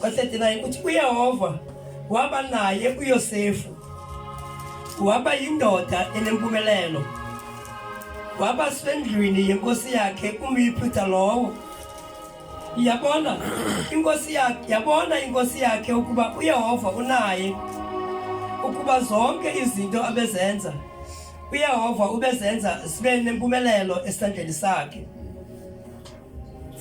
Kwa-39 uthi uyehova waba naye uyosefu waba yindoda enempumelelo waba sendlwini yenkosi yakhe umyiphutha lowo yabona inkosi yakhe yabona inkosi yakhe ukuba uyehova unaye ukuba zonke izinto abezenza uyehova ubezenza zibe nempumelelo esandleni sakhe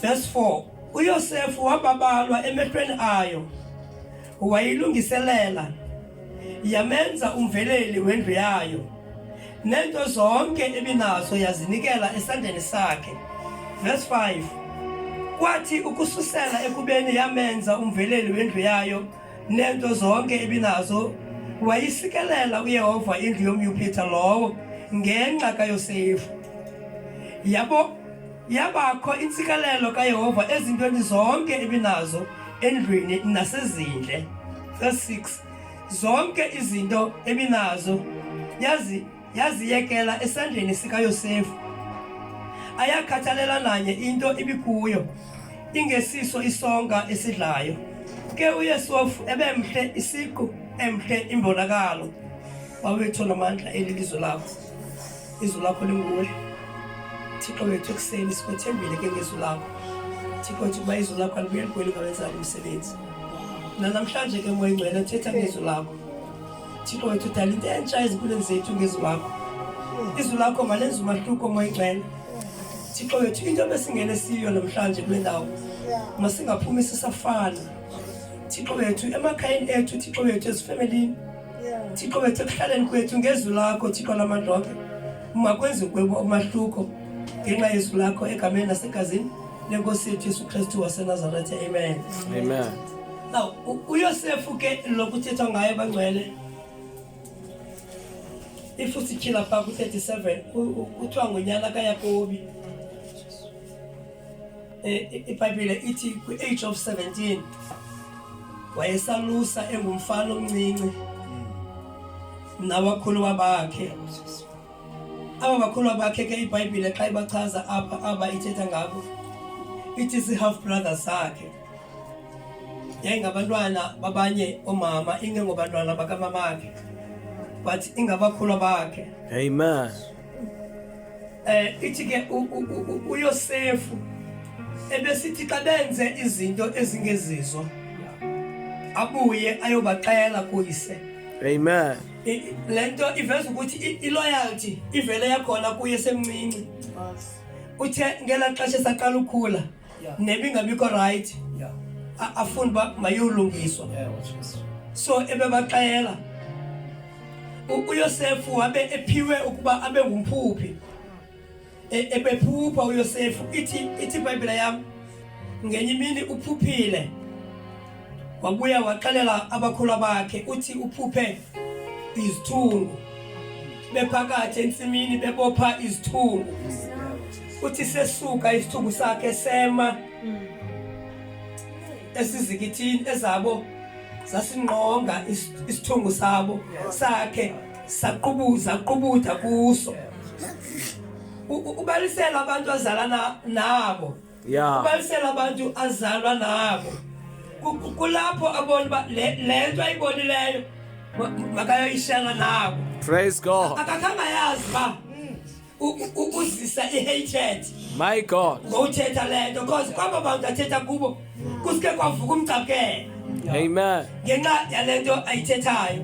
verse 4 UYosefu wababalwa emehlweni ayo, wayilungiselela yamenza umveleli wendlu yayo, nento zonke ebinazo yazinikela esandleni sakhe. Verse 5 kwathi ukususela ekubeni yamenza umveleli wendlu yayo nento zonke ebinazo wayisikelela uyehova indlu yomyupitha lowo ngenxa kayosefu yabo Yabakho intsikelelo kaYehova ezintweni zonke ebinazo endlwini nasezindle. Verse 6. Zonke izinto ebinazo yazi yaziyekela esandleni sikaYosefu. Ayakhathalela nanye into ibikuyo ingesiso isonka esidlayo. Ke uYesofu ebemhle isiqu emhle imbonakalo. Wawethu namandla elilizwe lakho. izwi lakho linguwe thixo wethu ekuseni sikwethembile ke ngezwi lakho thixo wethu ukuba izwi lakho alibuye ligweli ngawenzani umsebenzi nanamhlanje ke moya ingcwele thetha ngezwi lakho thixo wethu dala into entsha ezimpilweni zethu ngezwi lakho izwi lakho malenza umahluko moya ingcwele thixo wethu into besingene siyo namhlanje kule ndawo masingaphumi sisafana thixo wethu emakhayeni ethu thixo wethu ezifemelini Thixo wethu ekuhlaleni kwethu ngezwi lakho Thixo lamadonke makwenzi kwebo umahluko ngenxa yezwi lakho egameni nasegazini lenkosi yethu Yesu Kristu waseNazaretha amen amen now uYosefu ke lokuthethwa ngaye bangcwele if usityhila phaa ku-37 kuthiwa ngonyana kayakobi ibhayibhile ithi kwi-age of 17 wayesalusa engumfana omncinci nabakhuluwa bakhe aba bakhuluwa bakhe ke ibhayibhile xa ibachaza apha aba ithetha ngabo ithi si-half brother sakhe yayingabantwana babanye oomama ingengobantwana bakamamakhe but ingabakhuluwa bakhe amen Eh ithi ke uYosefu ebesithi xa benze izinto ezingezizo abuye ayobaxela kuyise. Amen. Lento iveza ukuthi iloyalty ivele yakhona kuye semncinci. Uthe ngela xesha saqala ukhula yeah. nebingabikho rayithi yeah. afuna uba mayolungiswa yeah, so ebebaxela uyosefu wabe ephiwe ukuba abe ngumphuphi e, ebephupha uyosefu ithi ithi ibhayibhile yam ngenye imini uphuphile wabuya waxelela abakhula bakhe uthi uphuphe izithungu bephakathi entsimini bebopha izithungu uthi sesuka isithungu sakhe sema esizikithini ezabo zasingqonga isithungu sabo sakhe saqubuza qubutha kuso ubalisela abantu azalana nabo ya kubalisela abantu azalwa nabo Ku- ku- kulapho abona uba le le nto ayibonileyo ma- makayoyishela nabo praise god akakhange ayazi uba u- u- u- uzisa i-hatred my god ngowuthetha le nto cause kwaba bantu athetha kubo kusuke kwavuka umcakela amen ngenxa yale nto ayithethayo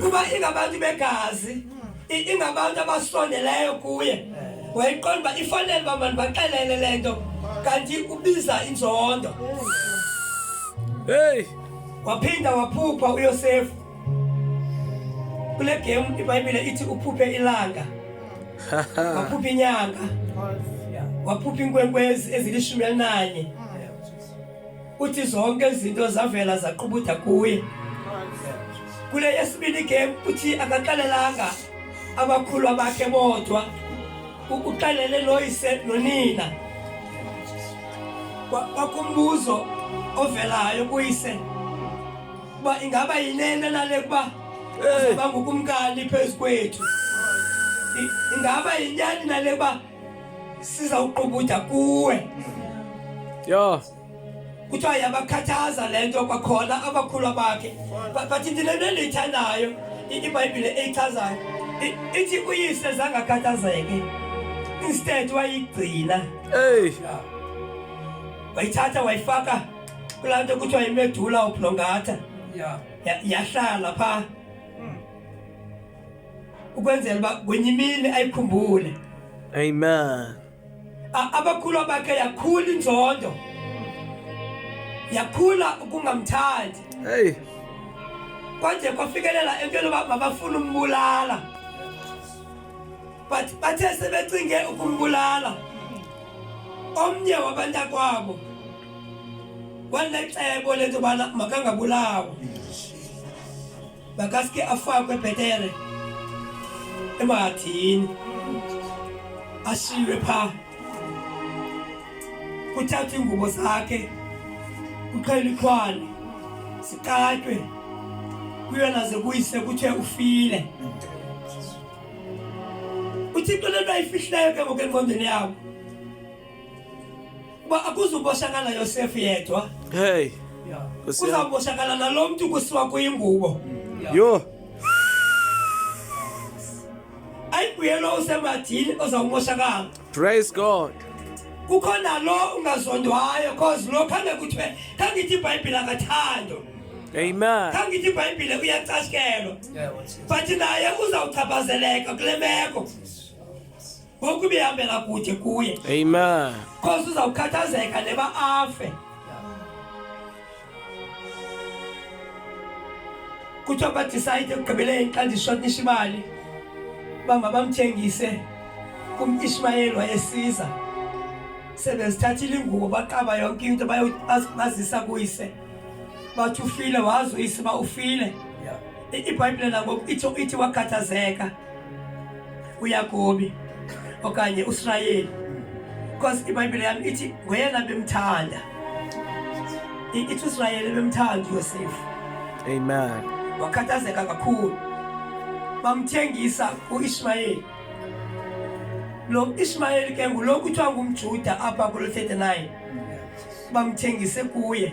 kuba ingabantu begazi ingabantu abasondeleyo kuye eh. wayeqonda uba ifanele uba mani baxelele le nto kanti ubiza inzondo heyi waphinda waphupha uyosefu kule gemu ibhayibhile ithi uphuphe ilanga waphupha inyanga waphupha iinkwenkwezi ezilishumi elinanye uthi zonke izinto zavela zaqubutha kuye kule yesibini game uthi akaxelelanga abakhulu abakhe bodwa uxelele loyise nonina kwakumbuzo ovelayo kuyise uba ingaba yinene nale kuba uzoba ngukumkani phezu kwethu ingaba yinyani nale kuba sizawuqubutya kuwe yho kuthiwa yabakhathaza le nto kwakhona abakhulu bakhe bathi ndilento endiyithandayo ibhayibhile eyichazayo ithi uyise zangakhathazeke instead wayigcina eyi wayithatha wayifaka kulaa nto kuthiwa yimedula ubhlongatha yahlala phaa ukwenzela uba kwenye imini ayikhumbule amen abakhulu bakhe yakhula inzondo yakhula ukungamthandi hey kwanje kwafikelela entweni uba mabafuna umbulala but bathe sebecinge ukumbulala omnye wabantakwabo wanecebo lento bana makangabulawa makaske afakwe bhetere emahathini ashiywe phaa kuthathwa iingubo zakhe kuxhela ikhwane sikatywe kuyona ze kuyise kuthiwe ufile uthixo le nto ayifihlileyo ke ngoku engqondweni yabo Kuba akuzuboshakala Yosefu yedwa. Hey. Kuzaboshakala nalo mntu kusiwa kuyingubo. Yho. Ayibuyelo usemathini ozawumoshakala. Praise God. Kukho nalo ungazondwayo cause lo khange kuthiwe khange ithi iBhayibhile akathando. Amen. Kangithi iBhayibhile uyacashikelwa. But naye uzawuchaphazeleka kule meko. ngokubihambela kude kuye amen khosi uzawukhathazeka neba afe kuthiwa badicide ekugqibeleni xa ndishotnisha imali uba mabamthengise kumishmayeli wayesiza sebezithathile ingubo baqaba yonke into bazisa kuyise bathi ufile wazi uyise uba ufile ibhayibhile nangoku ithi wakhathazeka yeah. uyakobi okanye usirayeli because ibhayibhile yam ithi ngoyena bemthanda ithi usirayeli bemthanda uyosefu amen wakhathazeka kakhulu bamthengisa uishmayeli lo ishmayeli ke ngulo kuthiwa ngumjuda apha kulo 39 bamthengise kuye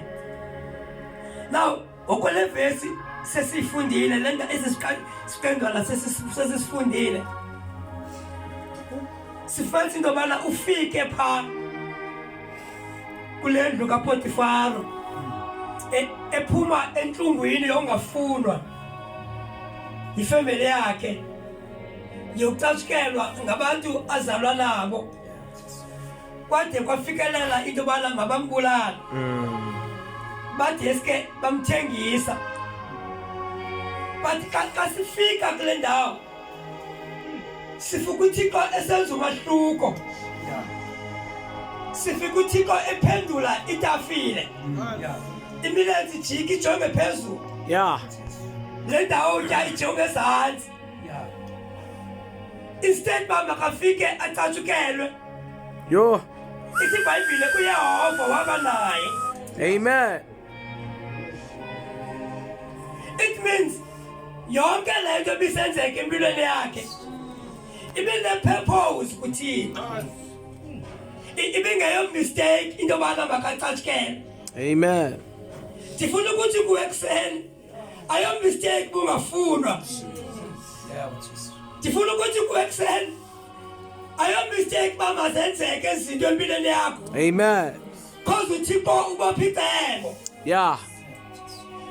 now Okwale vesi sesiyifundile le nto esi siqendwana sesisifundile sifanisa into yobana ufike phaa kule ndlu kapotifaro e, ephuma entlungwini yongafunwa yifemeli yakhe yokucatshukelwa ngabantu azalwa nabo kwade kwafikelela into yobana mabambulala mm. badeske bamthengisa but xa sifika kule ndawo sifika uthixo esenza umahluko sifika uthixo ephendula itafile imilenzi jiki ijonge phezulu le ndawo utya ijonge ezantsi Yeah. Instead uba makafike acatshukelwe. Yho. Ithi iBhayibhile uYehova waba naye. Amen. It means yonke le nto ibisenzeka empilweni yakhe ibine-purpose kuthina ibingeyo mistake into yobana makacatshukelwe amen ndifuna ukuthi kuwe ekuseni ayo mistake mumafunwa ndifuna ukuthi kuekuseni ayo mistake uba mazenzeke izinto empilweni yakho amen cause uthixo ubopha icebo ya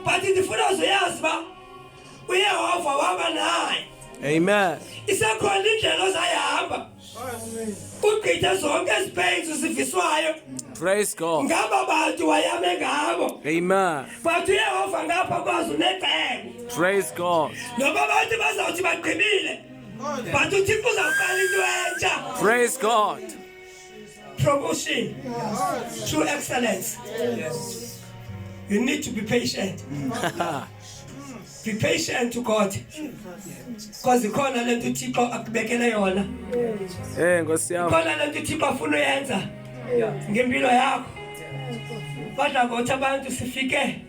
but ndifuna uzoyazi uba uyehova waba naye amen isekhona indlela ozayihamba kugqithe zonke ezibhenzi ziviswayo praise god ngaba bantu wayame ngabo amen but uyehova ngapha kwazi unecebo praise god noba abantu bazawuthi bagqibile but uthixo uzawuqala into entsha praise god promotion true excellence you need to be patient Be patient to God. Because ikhona le nto uThixo akubekele yona. Eh Nkosi yam. Ikhona le nto uThixo afuna uyenza ngempilo yakho. Badla ngothi abantu sifike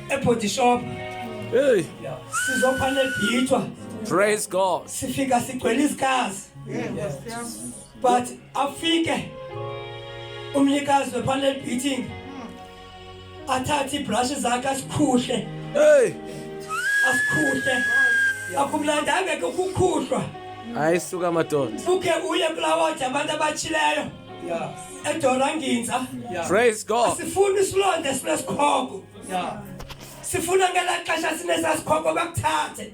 ebody shop. Hey. Sizophala ebhithwa. Praise God. Sifika sigcwele isikazi. Yes. But afike umnikazi wephala ebhithini athathe iibhrashi zakhe asikhuhle hey asikhuhle akumlandanga ke ukukhuhlwa hayi suka madoda uke uye kulawodi abantu abatshileyo edoranginza praise god asifuni isilonda sinesikhogo sifuna ngelaa xesha sinesasikhoko bakuthathe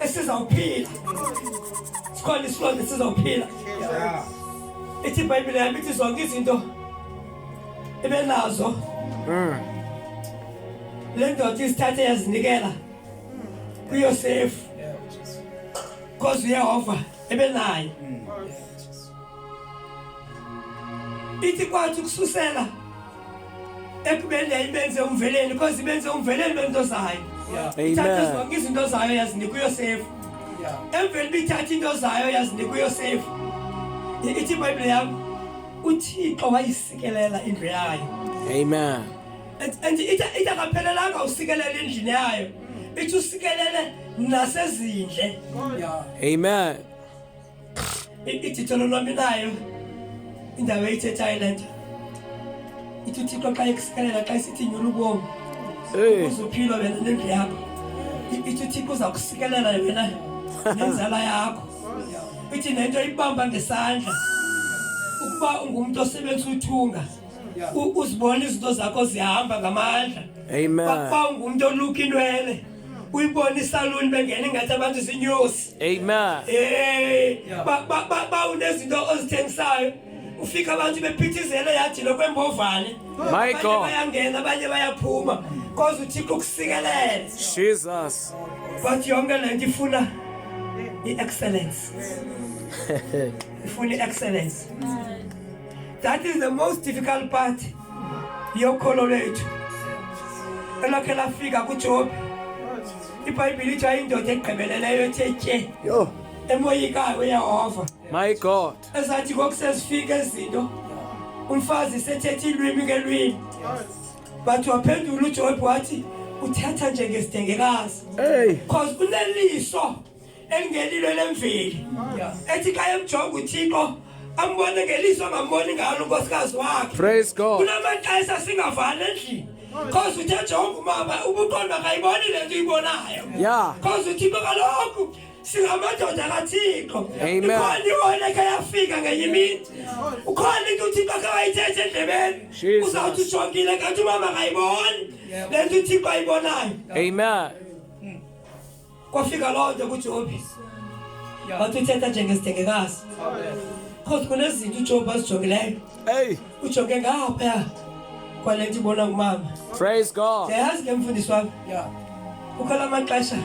esizawuphila sikhona isilwane esizawuphila ithi ibhayibhile yam ithi zonke izinto ibe nazo hmm. le ndoda isithathe yazinikela kuyosefu because uyehova ebe naye hmm. ithi kwathi ukususela ekubeni yayibenze umveleni because ibenze umveleni bento zayo ithathe zonke izinto zayo yazinika uyosefu emveni uba ithathe into zayo yazinika uyosefu ithi ibhayibhile yam uthixo wayisikelela indlu yayo amen and ithi akaphelelanga usikelela endlini yayo ithi usikelele nasezindle amen ijitho lolwami nayo indawo eyithethayo le nto ithi uthixo xa ekusikelela xa isithi nyula ubomi ukuze uphilwa wena nendlu yakho ithi uthixo uza kusikelela wena nenzala yakho ithi nento ibamba ngesandla ukuba ungumntu osebenzisa uthunga uzibona izinto zakho zihamba ngamandla amen kwakwangumntu oluka inwele uyibonisa luni bengena ingathi abantu zinyosi amen hey ba ba ba, ba unezinto ozithengisayo ufika abantu bephithizela yathi lokwembovane my god bayangena abanye bayaphuma cause uthixo ukusikelele jesus but yonke lento ifuna i-excellence ifuna i-excellence that is the most difficult part yokholo lwethu elakhe lafika kuJobi iBhayibhile ithi ayindoda egqibeleleyo ethe tye yho emoyikayo uyehova my god ezathi kokusezifika ezinto umfazi sethetha ilwimi ngelwimi bathi waphendula ujobi wathi uthetha njengesidengekazi because uneliso elingelilo elemveli ethi xa emjonga uthixo ambone ngeliso angamboni ngalo unkosikazi wakhe praise god kunamaxesha singavani endlini cause uthe jonga umama ubuqondo akayiboni le nto uyibonayo ya cause uthixo kaloku singamadoda kathixo ikhona iwona ke yafika ngenye imini ukhona into uthixo ke wayithethe endlebeni uzawuthi ujongile kanti umama akayiboni le nto uthixo ayibonayo amen kwafika loo nto kujobhisi wathi uthetha njengesithengekazi cause kunezinto ujobhi azijongileyo Hey, ujonge ngaphaya kwale nto ibona ngumama praise God. ndiyayazi ke mfundisi wam Yeah. kukho la maxesha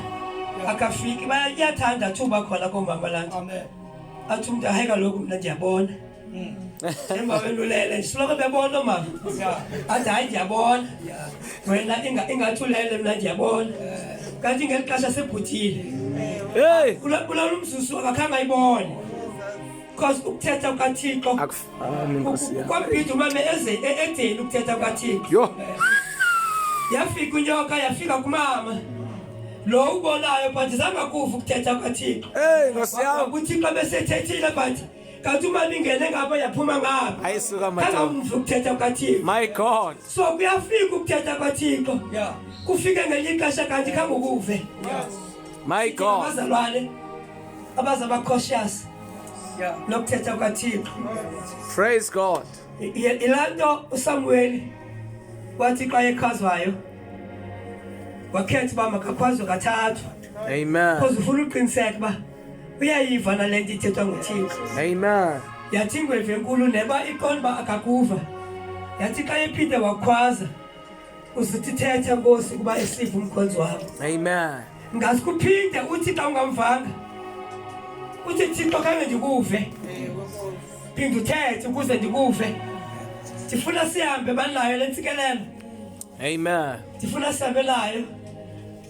akafiki Baya- iyathanda thuba khona koomama laa nto Amen. athi umntu hayi kaloku mna ndiyabona Emva wendulele ndisoloko bebona mama. Athi hayi ndiyabona. Wena inga ingathulele mna ndiyabona. Kanti ngeli xesha sebhuthile. Hey, Kula kula umzuzu akakhange ayibone. Because ukuthetha kukaThixo akufani nkosi yami. kwabhida umame eze e- edeni ukuthetha kukaThixo. Yho. Yafika unyoka yafika kumama. Lo ubonayo but zangakuva ukuthetha kukaThixo. Hey, nkosi yami. UThixo besethethile but katuma ningene ngapa yaphuma ngapha ayisuka madoda angamvu ukuthetha kwathixo my god so kuyafika ukuthetha kwathixo yeah kufike ngelinye ixesha kanti khangokuve yes my god abazalwane abaza ba cautious yeah nokuthetha kwathixo praise god ilanto usamuweli wathi xa ekhazwayo wakhetha uba makakhwazwe kathathu amen because ufuna uqiniseka uba uyayiva na le nto ithethwa nguthixo amen yathi ingwevu enkulu neba iqonda uba akakuva yathi xa ephinde wakhwaza uzithi thetha nkosi ukuba esive umkhonzi wakho amen ngazi kuphinde uthi xa ungamvanga uthi thixo khange ndikuve phinde uthethe ukuze ndikuve ndifuna sihambe banayo le ntsikelelo amen ndifuna sihambe nayo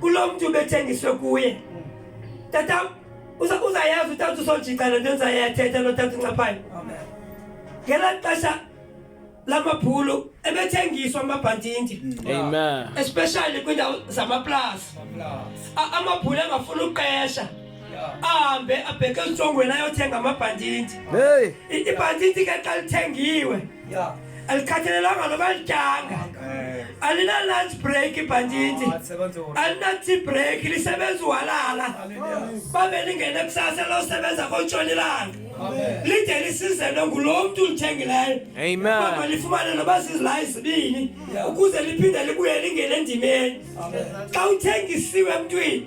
Kulo mntu ubethengiswe kuye. Tata uza uzayazi utata usojika le nto nzayathetha lo tata uncaphayo. Amen. Ngela xesha lamabhulu ebethengiswa amabhantinti. Amen. Especially kwindawo zamaplaza. A- Amabhulu engafuna uqesha. Ahambe abheke entshongweni ayothenga amabhantinti. Hey. I- Ibhantinti ke xa lithengiwe Yeah. alikhathalelanga noba lityanga Eh, alinalunch break ibhantshintshi but sebenza wona. alina-tea break lisebenza uhalala Hallelujah. babe lingene kusasa losebenza kontshonilanga Amen. lide lisizelwe ngulo mntu ulithengileyo Amen. Ukuba lifumane noba zizilayi zibini ukuze liphinde libuye lingene endimeni xa uthengisiwe emntwini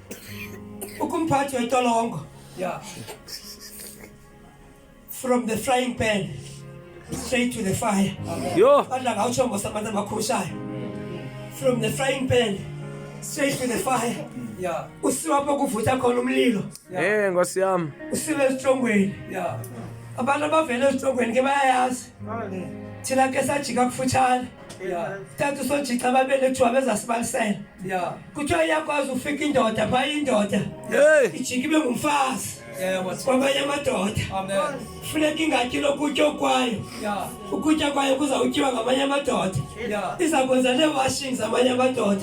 ukumphathi wetolongo yeah. from the frying pan straight to the fire badla ngawutsho ngosamandla amakhushayo from the frying pan straight to the fire yeah. usiwa apho kuvutha khona umlilo yeah. hey, eh, nkosi yam usiwe esitrongweni yeah. abantu abavele esitrongweni ke bayayazi thina ke sajika kufutshane Yeah. Thatha usojitha babelethwa bezasibalisela. Yeah. Kuthiwa iyakwazi ufika indoda phaa indoda. Hey. Ijike ibe ngumfazi. Yeah, what's kwamanye amadoda Amen. funeka ingatyi lokutya okwayo Yeah. ukutya kwayo kuzawutyiwa ngamanye amadoda Yeah. iza kwenza nee-washing zamanye amadoda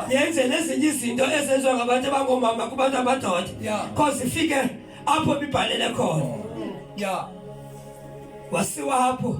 Yeah. yenze nezinye izinto ezenziwa ngabantu abangoomama kubantu amadoda Yeah. cause ifike apho bibhalele khona Yeah. wasiwa apho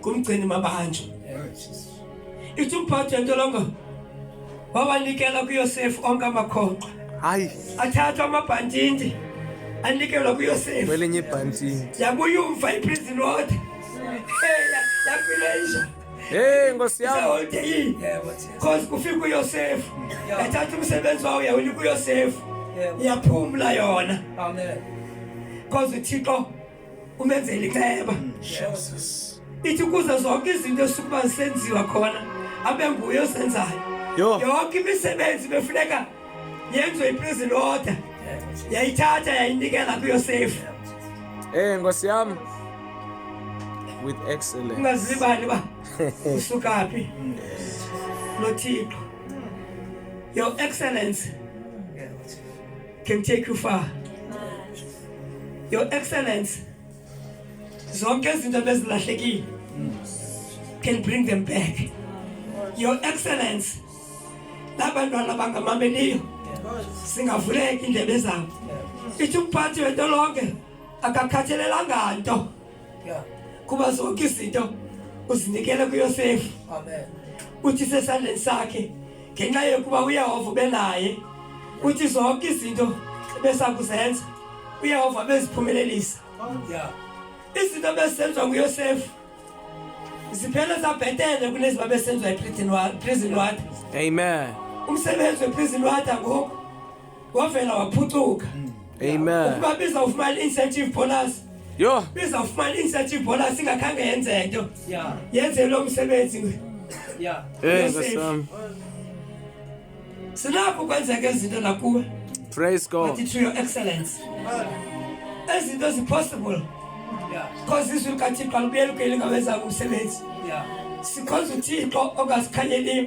kumgcini mabanjwa ithi umphathi yentolongo wawanikela kuyosefu onke amakhonkqa hayi athathwa amabhantindi anikelwa kuyosefu kwelinye ibhantindi yakuyumva iprison road yakulenja Hey Nkosi yami. Sawonke yini? Cause kufika uYosefu. Yathatha umsebenzi wawo yawunika uYosefu. Yaphumula yona. Amen. Cause uThixo umenzela iceba ithi ukuze zonke izinto esukuba zisenziwa khona abe nguye osenzayo yonke imisebenzi befuneka yenziwe iprison order yayithatha yayinikela kuyosefu ey eh, nkosi yam with excellence ungazilibali uba usukaphi nothixo your excellence can take you far. Your excellence, zonke izinto bezilahlekile can bring them back. Your excellence, labantwana bangamameliyo singavuleki indebe zabo. Ithi umphathi wento lonke akakhathelelanga nto. yeah. kuba zonke izinto uzinikele kuyosefu uthi sesandleni sakhe ngenxa yokuba uyehova ube naye uthi zonke izinto besakuzenza uyehova beziphumelelisa yeah. izinto bezisenziwa nguyosefu ziphele zabhetele kuneziba besenziwa eprison water amen umsebenzi weprison water ngoku wavela waphucuka mm. amen ukuba biza ufumana incentive bonus yho biza ufumana incentive bonus ingakhange yenze nto yenze lo msebenzi sinakho kwenzeka izinto nakuwe praise god to your excellence ezinto zipossible because izwi likathixo alibuyeli kuyeli ngawenzanga umsebenzi sikhonza uthixo ongasikhanyeliyo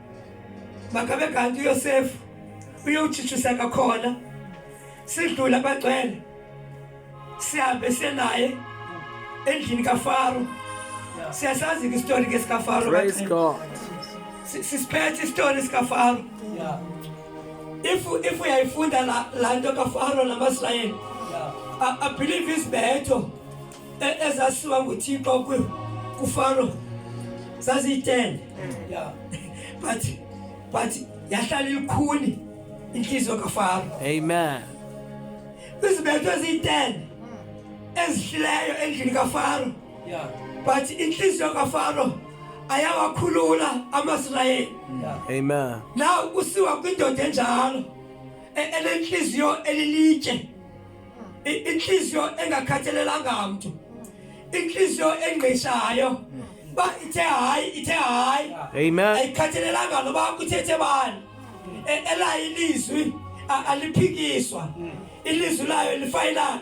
Makabe kanti uYosefu uyowutshitshisa kakhona sidlula bagcwele sihambe siye naye endlini kafaro siyasazi ke isitori ke sikafaro sisiphethe isitori sikafaro if if uyayifunda la nto kafaro namasirayeli abhilive izibetho e-, ezasiwa nguthixo kufaro zaziyi-ten ya but but yahlala ilikhuni intliziyo kafaro amen izibetho eziyi-ten ezihlileyo endlini kafaro but intliziyo kafaro ayawakhulula amasirayeli amen na kusiwa kwindoda enjalo e-, enentliziyo elilitye inhliziyo engakhathalelanga mntu inhliziyo engqishayo uba ithe hayi ithe hayi ayikhathalelanga noba kuthethe bani e, elayo ilizwi aliphikiswa ilizwi layo lifayilana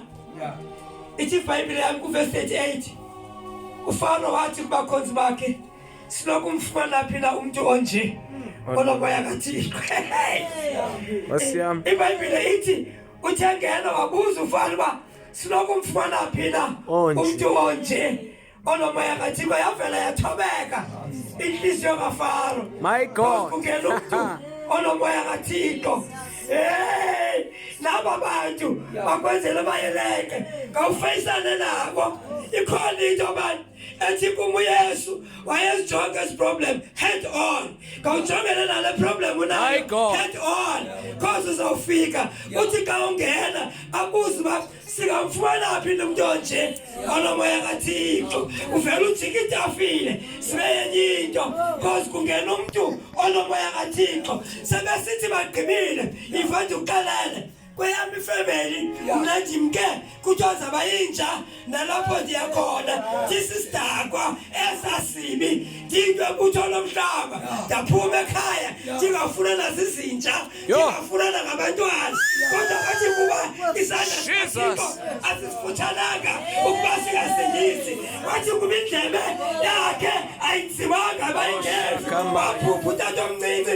ithi ibhayibhile yami kuvesi 38 ufaro wathi kubakhonzi bakhe sinokumfumana phi na umntu onje onomoya kathixo ibhayibhile ithi uthe ngena wabuza ufana uba sinokumfumana phi na umntu onje onomoya kathixo yavela yathobeka intliziyo kafaro my god kungena umntu onomoya kathixo heyi naba bantu bakwenzela bayeleke kawufeyisane nabo ikhona into abantu ethi kum uyesu wayezijonga ezi problem head on khawujongene nale problem unayo head on cause uzawufika uthi xa ungena abuze uba singamfumana phi into mntu onje onomoya kathixo uvele ujika itafile sibe yenye into cause kungena umntu onomoya kathixo sebesithi bagqibile ivanti uqalele kweyam ifemeli mna ndimke kuthiwa zaba yinja nalapho ndiya khona ndisisidakwa esasibi ndinto ebutho lomhlaba ndaphuma ekhaya ndingafuna nazizinja ndingafuna nangabantwana kodwa bathi kuba isandla sikathixo asisifuthananga ukuba singasindisi wathi kuba indlebe yakhe ayinzimanga bayingezi waphupha utata omncinci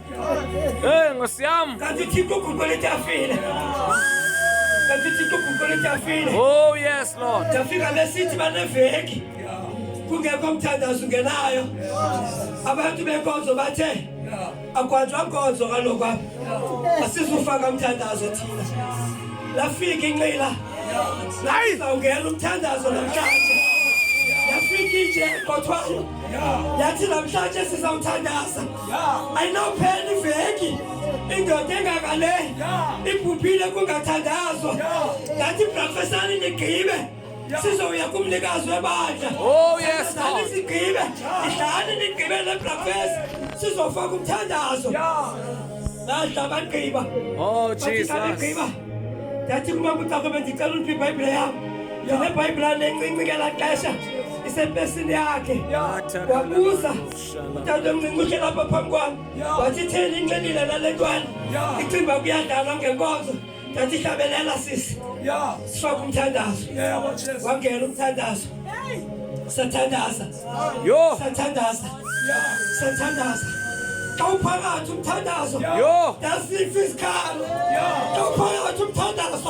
Eh, ngosiam. Kanti tiko kukole tafile. Kanti tiko kukole tafile. Oh yes Lord. Tafika lesiti banefeki. Kungekho mthandazo ungenayo. Abantu benkonzo bathe akwadwa nkonzo kaloku apha. Asizufaka mthandazo thina. Lafika inqila. Hayi, sawungena umthandazo namhlanje. Yafika inje kodwa. Yathi namhlanje sizawuthandaza. ayinophela iveki indoda engaka le ibhubhile kungathandazwa ngathi brafesani nigqibe sizowuya kumnikazi webandla oh, sigqibe idlani nigqibe le brafesi sizofaka umthandazo nadla bagqiba oh, gqiba ndathi kuba kucako bendicela uliphi ibhayibhile yam ndinebhayibhilane encinci ngela xesha isempesini yakhe wabuza utata umncincishe lapha phambi kwam wathi theni inxilile nale ntwana icinga uba kuyadlalwa ngenkonzo ndathi hlabelela sisi sifake umthandazo wangena umthandazo sathandaza sathandaza sathandaza xa uphakathi umthandazo ndasifa isikhalo xa uphakathi umthandazo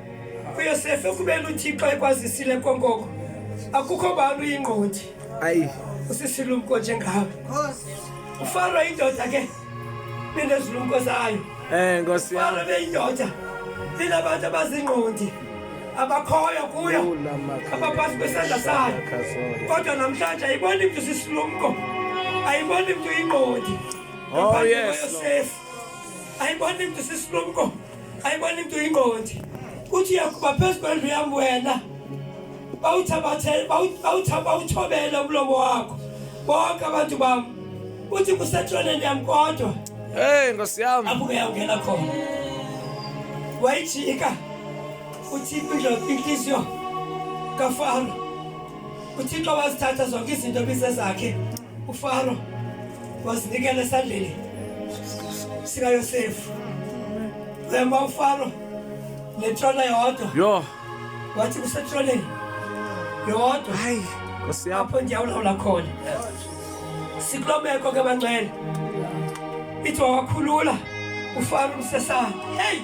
uyosefe ukubeni uthixo ekwazisile konkoko akukho bani uyingqondi ayi usisilumko njengawe ufaro indoda ke benezilumko zayo um nkosi faro beyindoda inabantu abazingqondi abakhoyo kuyo abaphathi besandla sayo kodwa namhlanje ayiboni mntu sisilumko ayiboni mntu ingqondi oh, yosefu ayiboni mntu sisilumko ayibona into ingondi uthi uyakuba phezu kwendlu yam wena bawuthobele umlomo wakho bonke abantu bam uthi kusetroneni yam kodwa heyi nkosi yam abuke yawungena khona wayijika uthi inhliziyo kafaro uThixo wazithatha zonke izinto ebisezakhe uFaro wazinikela esandleni sikaYosefu wema uFaro netrona yodwa yho wathi kusetroneni yodwa hayi apho ndiyawulawula khona sikuloo meko ke bancela ithi wawakhulula ufaro umsesana heyi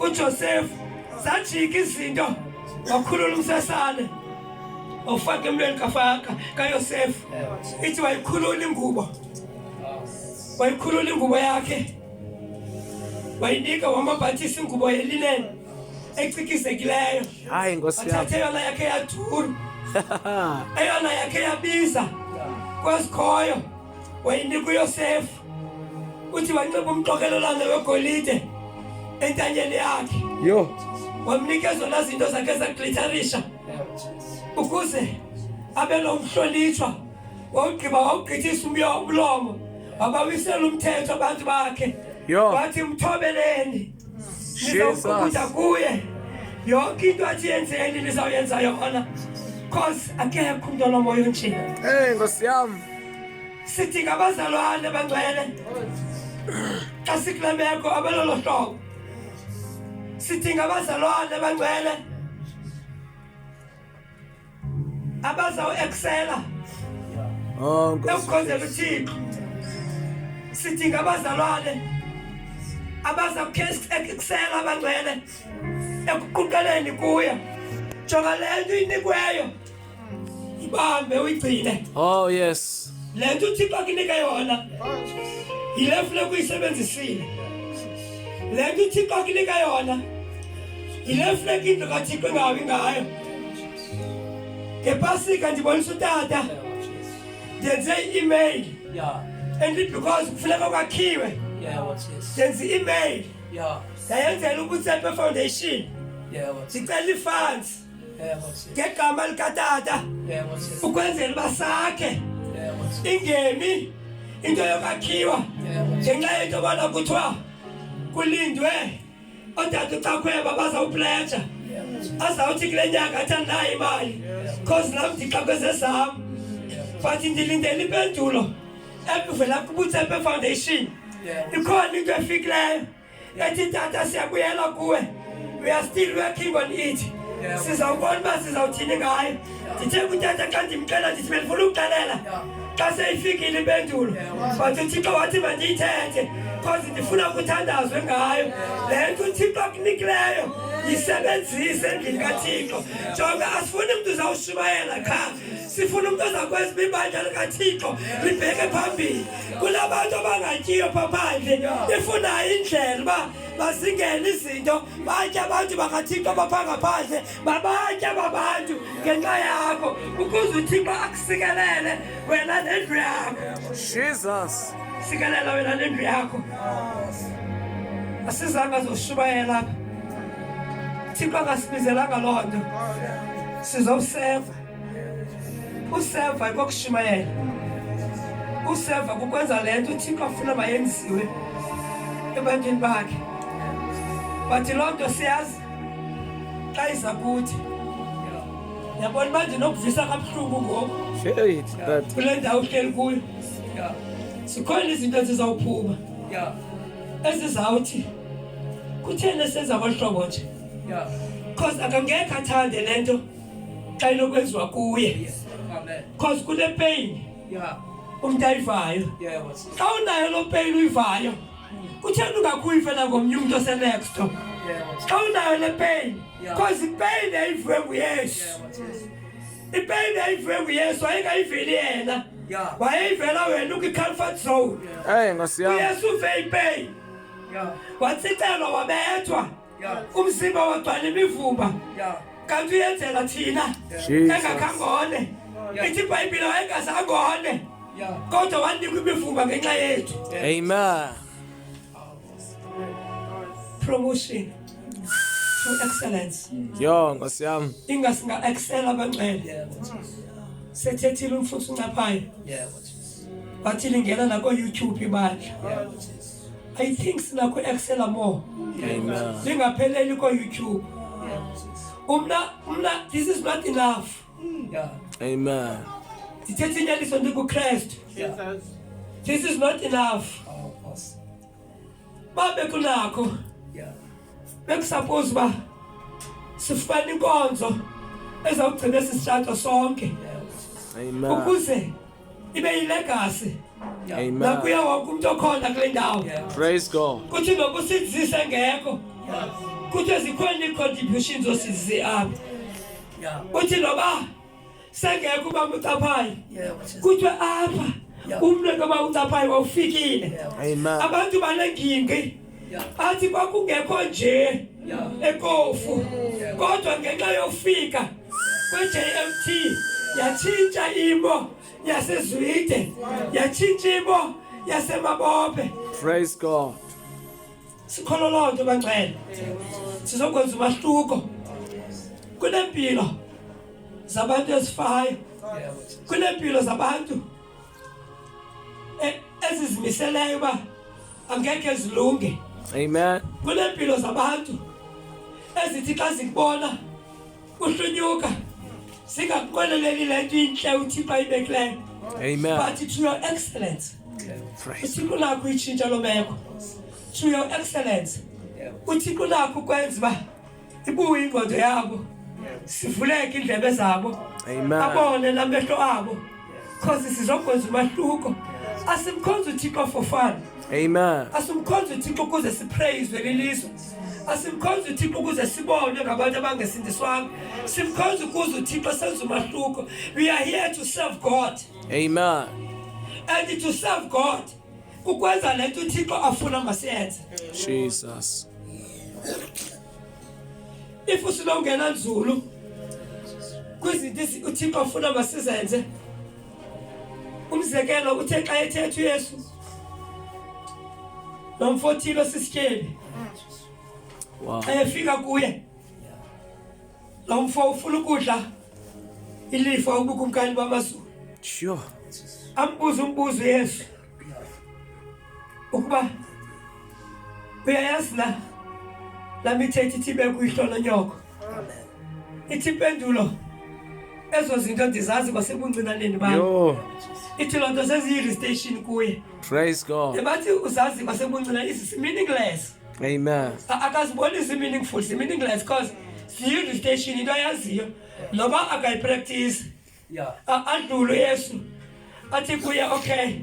uJosefu zajika izinto wakhulula umsesane wawufaka emlweni kafaka kayosefu ithi wayikhulula ingubo wayikhulula ingubo yakhe wayinika wamabhathisa ingubo yelineni ecikizekileyo hayi nkosi yam athathe eyona yakhe yaduru eyona yakhe yabiza kwasikhoyo wayinika uyosefu uthi wanxiba umqokelo olanda wegolide entanyeni yakhe yho wamnika ezona zinto zakhe zaglitarisha ukuze abe lo mhlonitshwa wawugqiba wawugqithisa umyo umlomo wabawisela umthetho abantu bakhe wathi mthobeleni nizawuqukutha kuye yonke into athi yenzeni nizawuyenza yona cause akekho umntu onomoya onjena ey nkosi yam Sithi ngabazalwane bangcwele xa sikule meko abelolo hlobo sithi ngabazalwane bangcwele abazawueksela oh, ekukhonzela uthixo sithi ngabazalwane abazawueksela abangcwele ekuquqeleni kuya jonga le nto inikweyo ibambe uyigcine oh yes le nto uthixo akunika yona yile funeka uyisebenzisile le nto uthixo akunika yona yile funeka indlu kathixo ingawi ngayo ngepasika ndibonisa utata ndenze i-email and because kufuneka kwakhiwe ndenze i-email ndayenzela ubutsepe foundation ndicela ifunds ngegama likatata ukwenzela uba sakhe ingemi into yokwakhiwa ngenxa yento yobana kuthiwa kulindwe odade ucakhweba bazawupletsha azawuthi kule nyanga athi andinayo imali cause nam ndixakweze zam but ndilindela impendulo evela kubutsepe foundation ikhona into efikileyo yeah. ngatitata siyabuyela kuwe we are still working on it sizawubona uba sizawuthini ngayo ndithe kutata xa ndimxela ndithi bendifuna ukuxelela xa seyifikile impendulo but uthixo wathi mandiyithethe because ndifuna kuthandazwe ngayo le nto uthixo akunikileyo yisebenzise endlini kathixo jonga asifuni mntu uzawushumayela qha sifuna umntu ozakwezi bibandla likathixo libheke phambili kula bantu abangatyiyo phaphandle ifunayo indlela uba bazingene izinto batya abantu bakathixo baphangaphandle babatya babantu ngenxa yakho ukuze uthixo akusikelele wena nendlu yakho jesus sikelela wena nendlu yakho asizanga zoshubayela apha thixo akasibizelanga loo nto sizowuseva Useva kokushumayela, useva kukwenza le nto uThixo afuna mayenziwe ebantwini bakhe. But loo nto siyazi xa iza kuthi yabona uba ndinokuvisa kabuhlungu ngoku kule ndawo uhleli kuyo zikhona izinto ezizawuphuma ezizawuthi kutheni esenza ngolu hlobo nje because akangekho athande le nto xa inokwenziwa kuye cause kune pain umntu ayivayo xa unayo loo pain uyivayo kutheni ungakuyive nangomnye umntu osenexto xa unayo le pain cause ipain yayiviwe nguyesu ipain yayiviwe nguyesu wayengayiveli yena wayeyivela wena ukwi-comfort zone uyesu uve ipain watsixelwa wabethwa umzimba wagcwala imivumba kanti uyenzela thina engakangone ithi ibhayibhile wayengazangone kodwa wanikwa imivumba ngenxa yethu amen promotion to excellence yo nkosi yam ingasinga excel abangcwele sethethile umfuthu uncaphayo wathi lingena nako-youtube ibandla I think sinakho Excel more. Amen. Lingapheleli ko YouTube. Umna umna this is not enough. Yeah. Amen. Ndithethe inyaniso ndikuKristu. Jesus. This is not enough. Oh, boss. Babe kunakho. Yeah. Bekusuppose ba sifumana inkonzo ezawugcina sisitshato sonke. Amen. Ukuze ibe yilegasi nakuya wonke umntu okhona kule ndawo kuthi nokusizise ngekho kuthi zikhona ii-contributions osizi apha kuthi noba sengekho uba mucaphayo kuthiwe apha umntu noba ucaphayo wawufikile abantu banengingi athi kwakungekho nje ekofu kodwa ngenxa yofika kwe-jmt yatshintsha imo yasezwide yatshintsha imo yasemabophe praise god sikholo loo nto bangcwele sizokwenza umahluko kunempilo zabantu ezifayo kunempilo zabantu e, ezizimiseleyo uba angeke zilunge amen kuneempilo zabantu ezithi xa zikubona uhlunyuka singakuqweleleli le nto intle uthixo ayibekileyo amen but to your excellence uthixo unakho uyitshintsha loo meko to your excellence uthixo unakho ukwenza uba ibuye ingqondo yabo sivuleke iindlebe zabo abone la mehlo abo cause sizokwenza umahluko asimkhonza uthixo for fun amen asimkhonza uthixo ukuze siprayizwe lilizwe asimkhonza uthixo ukuze sibonwe ngabantu abangesindiswanga simkhonza ukuze uthixo senza umahluko we are here to serve god amen and to serve god kukwenza le nto uthixo afuna masiyenze jesus if usilongena nzulu kwizinto uthixo afuna masizenze umzekelo uthe xa ethetha uyesu lo mfo othile osisityebi xa efika kuye Lo mfo ufuna ukudla ilifa ubukumkani bamazulu. Sure. Ambuza umbuzo Yesu. Ukuba uyayazi na la mithethi ithi bekuyihlo nonyoko. Ithi impendulo ezo zinto ndizazi kwasebuncinaneni bam. Yho. Ithi loo nto seziyi-restation kuye. Praise God. Ebathi uzazi kwasebuncinane is meaningless. Amen. Akazibonisi meaningful, si meaningless cause siyini station into ayaziyo noba akayipractice. Yeah. Adlule Yesu. Athi kuye okay.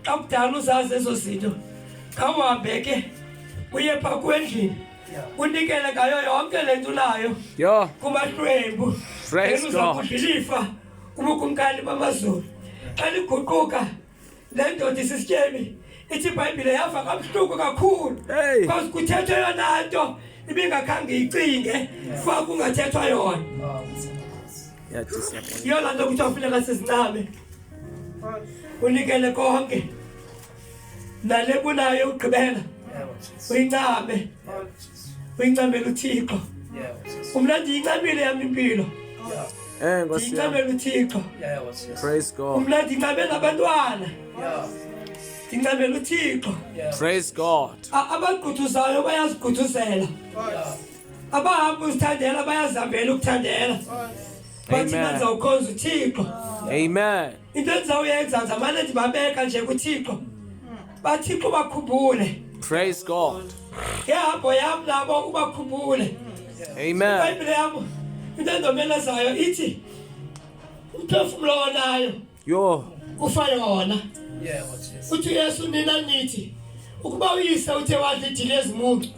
Xa kudala uzazi ezo zinto. Khawuhambe ke uye pha kwendlini. Unikele ngayo yonke le nto unayo. Yho. Kumahlwembu. Praise God. Uza kudlilifa kubukumkani bamazulu. Xa liguquka Le ndoda isisityemi ithi ibhayibhile yava kabuhlungu kakhulu because kuthethwa yona nto ibingakhange icinge kuba kungathethwa yona yiyo laa nto kuthiwa funeka sizincame unikele konke nale kunayo ugqibela uyincame uyincamela uthixo umna ndiyincamile yam impilo eh, ndiyincamela uthixo umna ndincamela abantwana ndincamela uthixo praise god abagquthuzayo bayazigquthuzela abahamba uzithandela bayazihambela ukuthandela bathi mandizawukhonza uthixo amen into endizawuyenza ndizamane ndibabeka nje kuthixo bathixo ubakhumbule Praise God. ngehambo yam nabo ubakhumbule Amen. ibhayibhile yam into endomelezayo ithi umphefumlo onayo Yo. kufa yona uthi uyesu nina nithi ukuba uyise uthe wadla idili ezimuncu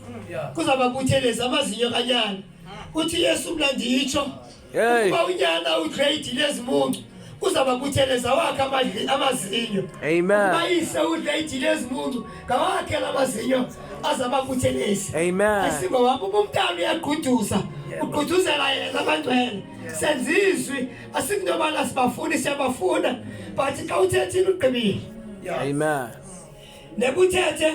kuzababuthelezi amazinyo kanyana uthi uyesu mna nditsho Hey. Ukuba unyana ugrade lezi muncu uzaba kutheleza wakhe amazinyo. Amen. Ukuba yise ugrade lezi muncu ngawakhe lamazinyo azaba kutheleza. Amen. Asingo wabo umntana uyaguduza. Uguduzela yena abantwana. Senzizwi asintomana sibafuni siyabafuna but xa uthethile ugqibile. Amen. Nekuthethe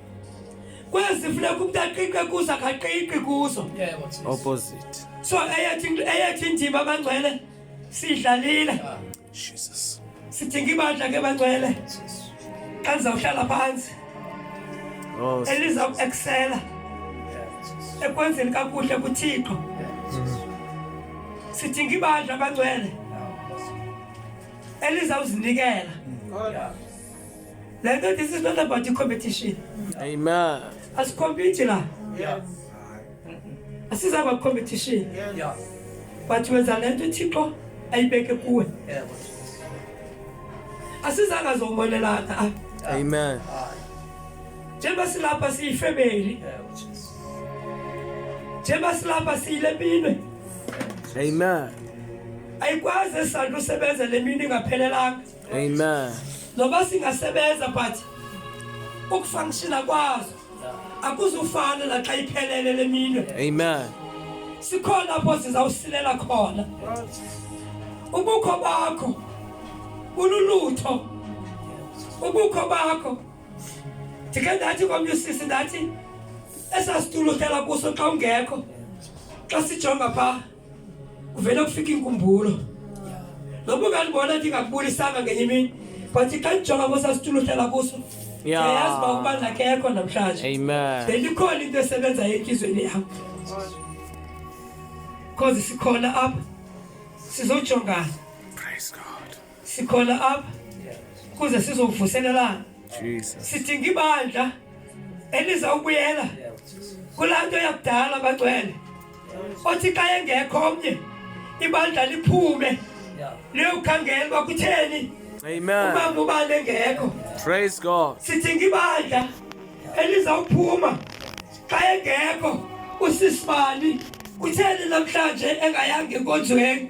kwezi funeka umntu aqiqe kuzo akaqiqi kuzo opposite so eyethi indima abangcwele sidlalile ah. jesus sidinga ibandla ke bangcwele xa ndizawuhlala phantsi oh, eliza kueksela ekwenzeni kakuhle kuthixo sidinga ibandla abangcwele elizawuzinikela They know this is not about the competition. Amen. As compete la. Yes. This is about competition. Yes. Yeah. But you are lento Thixo ayibeke kuwe. Yes. Asizanga zombonelana. Amen. Njengoba silapha siyifamily. Njengoba silapha siyilepinwe. Amen. Ayikwazi esandla usebenza lemini ingaphelelanga. Amen. Noba singasebenza but ukufunctiona kwazo akuzufana naxa iphelele leminwe. Amen. Sikhona apho sizawusilela khona. Ubukho bakho bululutho. Ubukho bakho ndike ndathi komnye usisi ndathi esasituluthela kuso xa ungekho xa sijonga phaa kuvele kufika inkumbulo noba ungandibona ndingakubulisanga ngenye imini but xa ndijonga kwesasitulo uhlala kuso ndiyayazi uba ukuba ndakekho namhlanje bendikhona into esebenzayo entlizweni yam because sikhona apha sizojongana sikhona apha ukuze sizovuselelana sidinga ibandla eliza kubuyela kulaa nto yakudala bagcwele othi xa engekho omnye ibandla liphume liyokukhangela uba kutheni umama ubani engekho sidinga ibandla elizawuphuma xa engekho usisibani kutheni namhlanje engayanga enkonzweni